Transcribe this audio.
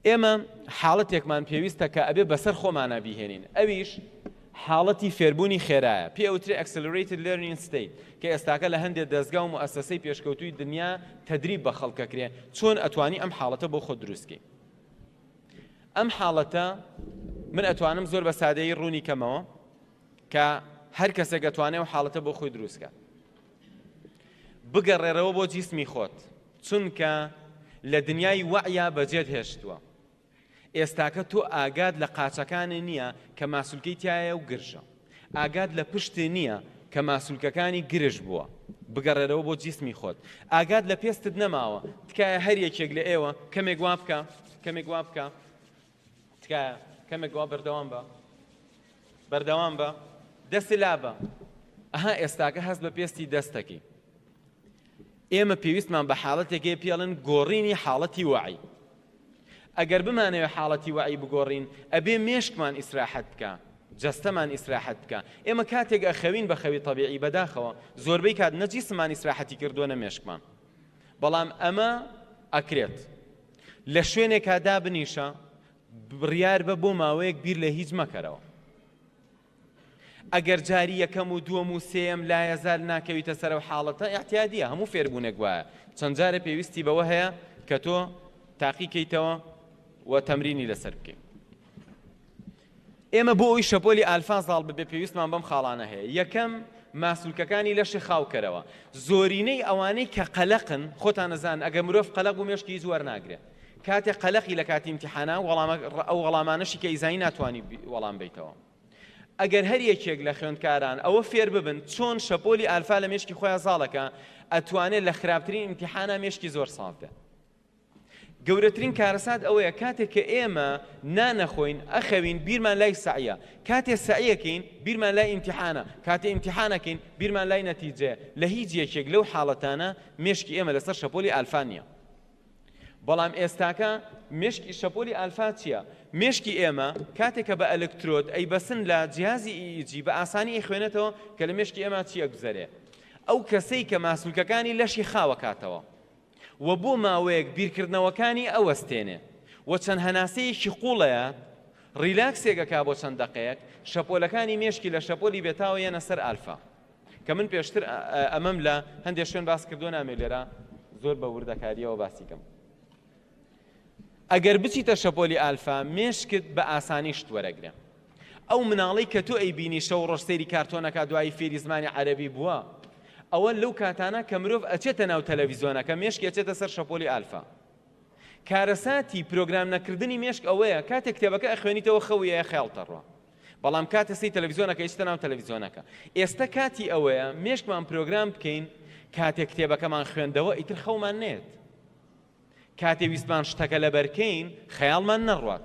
ئێمە حاڵەتێکمان پێویستە کە ئەبێ بەسەر خۆمانە بیهێنین ئەویش حاڵەتی فێربوونی خێرایە پێ ئەوترێ ئەکسلریتد لێرنین ستیت کە ئێستاکە لە هەندێک دەستگا و مؤسسەی پێشکەوتوی دنیا تەدریب بە خەڵکەکرێ چۆن ئەتوانی ئەم حاڵەتە بۆ خۆ دروستکی ئەم حاڵەتە من ئەتوانم زۆر بە سادەی ڕوونی کەمەوە کە هەر کەسێک ئەتوانێ و حاڵەتە بۆ خۆی دروستکە بگەڕێرەوە بۆ جیسمی خۆت چونکە لە دنیای وەعیا بەجێت هێشتووە ئێستاکە تۆ ئاگات لە قاچەکانی نییە کە ماسولکەی تایە و گرژە ئاگات لە پشتی نییە کە ماسولکەکانی گرژ بووە بگەڕێرەوە بۆ جیسمی خۆت ئاگات لە پێستت نەماوە تکایە هەر یەکێک لە ئێوە کەمێک وا بکە کەمێک وا بکە تکایە کەمێک گوا بەردەوام بە بەردەوام بە دەستی لابە ئەها ئێستاکە هەست بە پێستی دەستەکەی ئێمە پێویستمان بە حاڵەتێکی پێڵن گۆڕینی حاڵەتی وعی ئەگەر بمانەوە حاڵەتی وعی بگۆڕین ئەبێ مێشکمان ئیسراحەت بکە جستەمان ئیسراحەت بکە ئێمە کاتێک ئەخەوین بە خەوی طببیعی بەداخەوە زۆربەی کات نەجیسمان ئیسراحەتی کردووە نە مێشکمان بەڵام ئەمە ئەکرێت لە شوێنێکا دابنیشە بڕیار بە بۆ ماوەیەک بیر لە هیچ مەکەرەوە ئەگەر جاری یەکەم و دووەم و سێم لایەزار ناکەویتە سەر و حاڵەتە احتیادیە هەموو فێربوونێک وایە چەند جارە پێویستی بەوە هەیە کە تۆ تاقیکەیتەوە و تەمرینی لەسەر بکەیت ئێمە بۆ ئەوەی شەپۆلی ئالفا زاڵ ببێت پێویستمان بەم خاڵانە هەیە، یەکەم، ماسولکەکانی لەشی خاو کەرەوە، زۆرینەی ئەوانەی کە قەلەقن، خۆتان ئەزانن ئەگەر مرۆڤ قەلەق بوو مێشکی هیچ وەرناگرێت، کاتێک قەلەقی لە کاتی ئیمتیحانا وەڵامە ئەو وەڵامانەشی کە ئیزانی ناتوانی وەڵام بەیتەوە. ئەگەر هەر یەکێک لە خوێندکاران ئەوە فێر ببن چۆن شەپۆلی ئالفا لە مێشکی خۆیان زاڵەکە ئەتوانێت لە خراپترین ئیمتیحانا مێشکی زۆر ساف بێت. گەورەترین کارەسات ئەوەیە کاتێک کە ئێمە نانەخۆین ئەخەوین بیرمان لای سەعیە کاتێ سەعیەکەین بیرمان لای ئیمتیحانە کاتێ ئیمتیحانەکەین بیرمان لای نەتیجەیە لە هیچ یەکێک لەو حاڵەتانە مێشکی ئێمە لەسەر شەپۆلی ئالفا نییە بەڵام ئێستاکە مشکی شەپۆلی ئالفا چییە مشکی ئێمە کاتێکە بە ئەلکترۆت ئەی بەسن لە جیازی ئیجی بە ئاسانی ئەی خوێنێتەوە کە لە مشکی ئێمە چییە گوزەرێ ئەو کەسەی کە ماسولکەکانی لەشی خاوەکاتەوە و بۆ ماوەیەک بیرکردنەوەکانی ئەوەستێنێ و چەند هەناسەیەکی قوڵەیە ڕیلاکسێک ئەکا بۆ چەند دەقەیەک شەپۆلەکانی مێشکی لە شەپۆلی بێتاوە یەنە سەر ئالفا کە من پێشتر ئەمەم لە هەندێک شوێن باس کردو نامێ لێرە زۆر بە وردەکاریەوە باسی کەم ئەگەر بچیتە شەپۆلی ئالفا مێشکت بە ئاسانی شت وەرەگرە ئەو مناڵەی کە تۆ ئەیبینی شەو ڕۆژ سەیری کارتۆنەکە دوایی فێری زمانی عەرەبی بووە ئەوە لەو کاتانە کە مرۆڤ ئەچێتە ناو تەلەڤیزیۆنەکە مێشک ئەچێتە سەر شەپۆلی ئالفا کارەساتی پرۆگرام نەکردنی مێشک ئەوەیە کاتێک کتێبەکە ئەخوێنیتەوە خەویە خێڵتەڕوە بەڵام کاتە سی تەلەڤیزیۆنەکە ئیستا ناو تەلەڤیزیۆنەکە ئێستا کاتی ئەوەیە مێشکمان پرۆگرام بکەین کاتێک کتێبەکەمان خوێندەوە ئیتر خەومان نێت کاتێ ویستمان شتەکە لەبەرکەین خەیاڵمان نەڕوات